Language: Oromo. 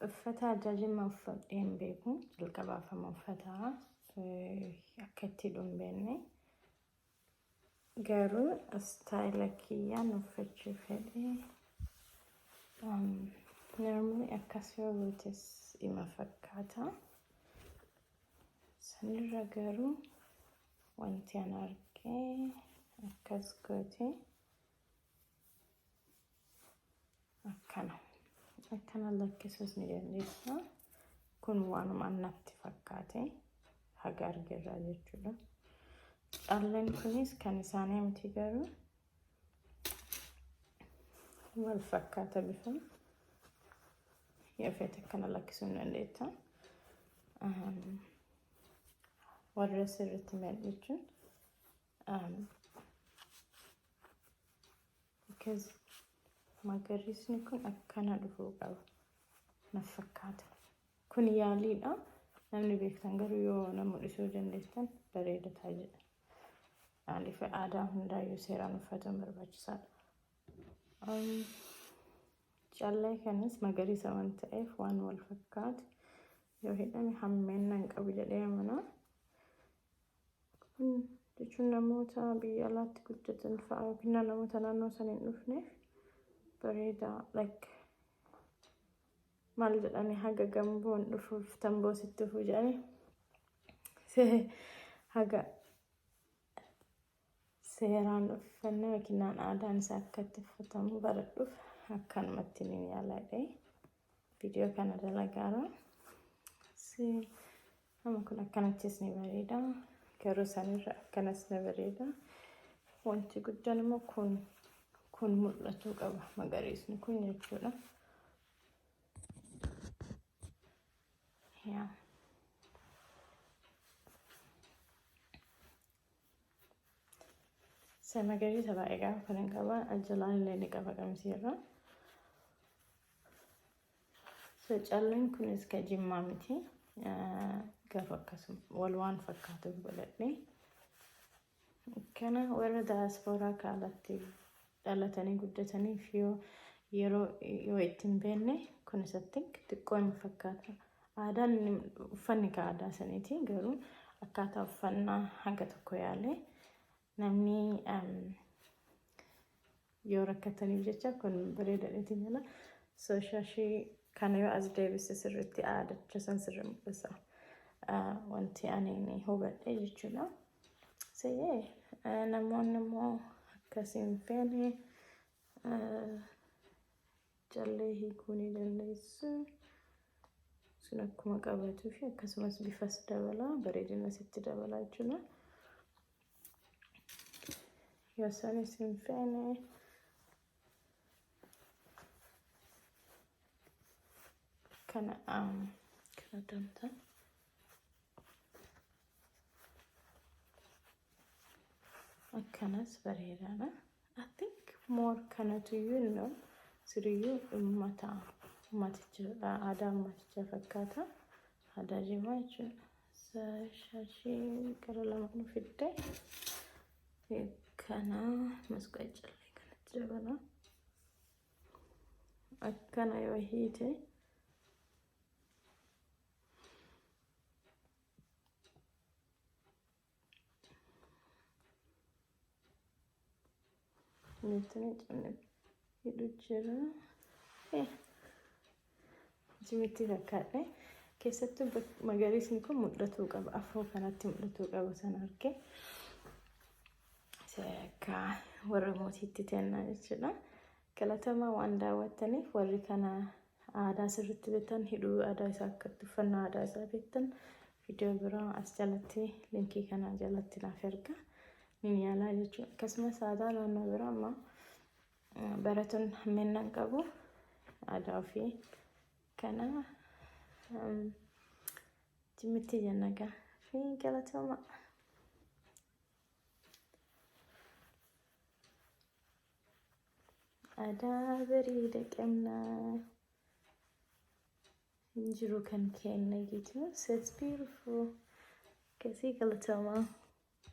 Uffata ajaajimma uffadhee hin beeku. Jalqabaaf amma uffata akka itti hidhu hin beekne. Garuu istaayila kiyyaan uffachuu fedhe. Narmni akkas yoo gootes ima fakkaata. Sanirra garuu wanti an arge akkas goote akkana akkana lakkisuus ni dandeessa kun waanuma natti fakkaate haga argerraa jechuudha calleen kunis kan isaanii miti garuu wal fakkaata bifa yoo feete akkana lakkisuu ni dandeetta warra sirriitti mi'a jechuun Um, because magariisni kun akkana dhufuu qaba naf fakkaata. Kun yaaliidha. Namni beektan garuu yoo na mul'isuu dandeessan bareeda ta'a jedha. Maaliif aadaa hundaayyuu seeraan uffatuun barbaachisaadha. Um, Callee kanas magariisa waan ta'eef waan wal fakkaatu yoo hidhame hammeenna hin qabu jedhee amanaa. jechuun namoota biyya alaatti guddatan fa'a yookiin namoota naannoo sana hin dhufneef bareeda like maal jedhani haga gamboon dhufuuf tamboo sitti dhufu jedhani haga Seeraan uffannaa yookiin aadaan isaa akka itti uffatamu baradhuuf akkanumatti ni yaaladhe. Viidiyoo kana dalagaara. Amma kun akkanattis ni bareeda. Garuu sanirra akkanas ni bareeda. Wanti guddaan immoo kun kun mul'atuu qaba magariisni kun jechuudha. Yeah. Isa magariisa baay'ee gaafa kanan qaba. Jalaan illee ni qaba qamisiirra. So calleen kunis ka jimmaa miti. Garuu akkasuma wal waan fakkaatu godhadhe. Kana warra daaspooraa kaalatti dhalatanii guddataniif yoo yeroo yoo itti hin beekne kun isatti xiqqoo hin fakkaata. Aadaan inni uffanni ka aadaa saniiti garuu akkaataa uffannaa hanga tokko yaalee namni em, yoo rakkataniif jecha kun bareedadheeti jala so shashii kana yoo as deebise sirriitti aadacha san sirri mul'isa Ah, wanti ani ni hubadhe jechuudha. Siyee namoonni immoo akkas hin feene callee hiikuu ni dandeessu. Sun akkuma qabatuu fi akkasumas bifas dabala bareedina sitti dabala jechuudha. Yoo sanis hin feene kana um, kana damta akkanas bareedaadha I think more kanatu iyyuu no siriyyuu ummata ummaticha aadaa ummaticha fakkaata aadaa jimaa jechuudha Sa- shaashii gara lama nu fidde Kana masqaa callee kanatti dabala. Akkana yoo hiite nuti ni cabne hidhu jira. Jimitti fakkaadhe. Keessattuu bak- magariisni kun mul'atuu qaba. Afoo kanatti mul'atuu qaba san arge. Se Akka warra mootiitti tennaa jechuudha. Galatamaa waan daawwattaniif warri kana aadaa sirriitti beektan hidhuu aadaa isaa akkatti uffannaa aadaa isaa beektan viidiyoo biraa as jalatti linkii kana jalatti naaf erga. Minyaalaa jechuudha. Akkasumas aadaa naannoo biraa amma Baratoonni hammeennan qabu aadaa ofii kana jimmitti jennagaa fi galatooma. Aadaa bareeda qabna. Hin jiru kan keenya gitu. So it's beautiful. Akkasii galatooma.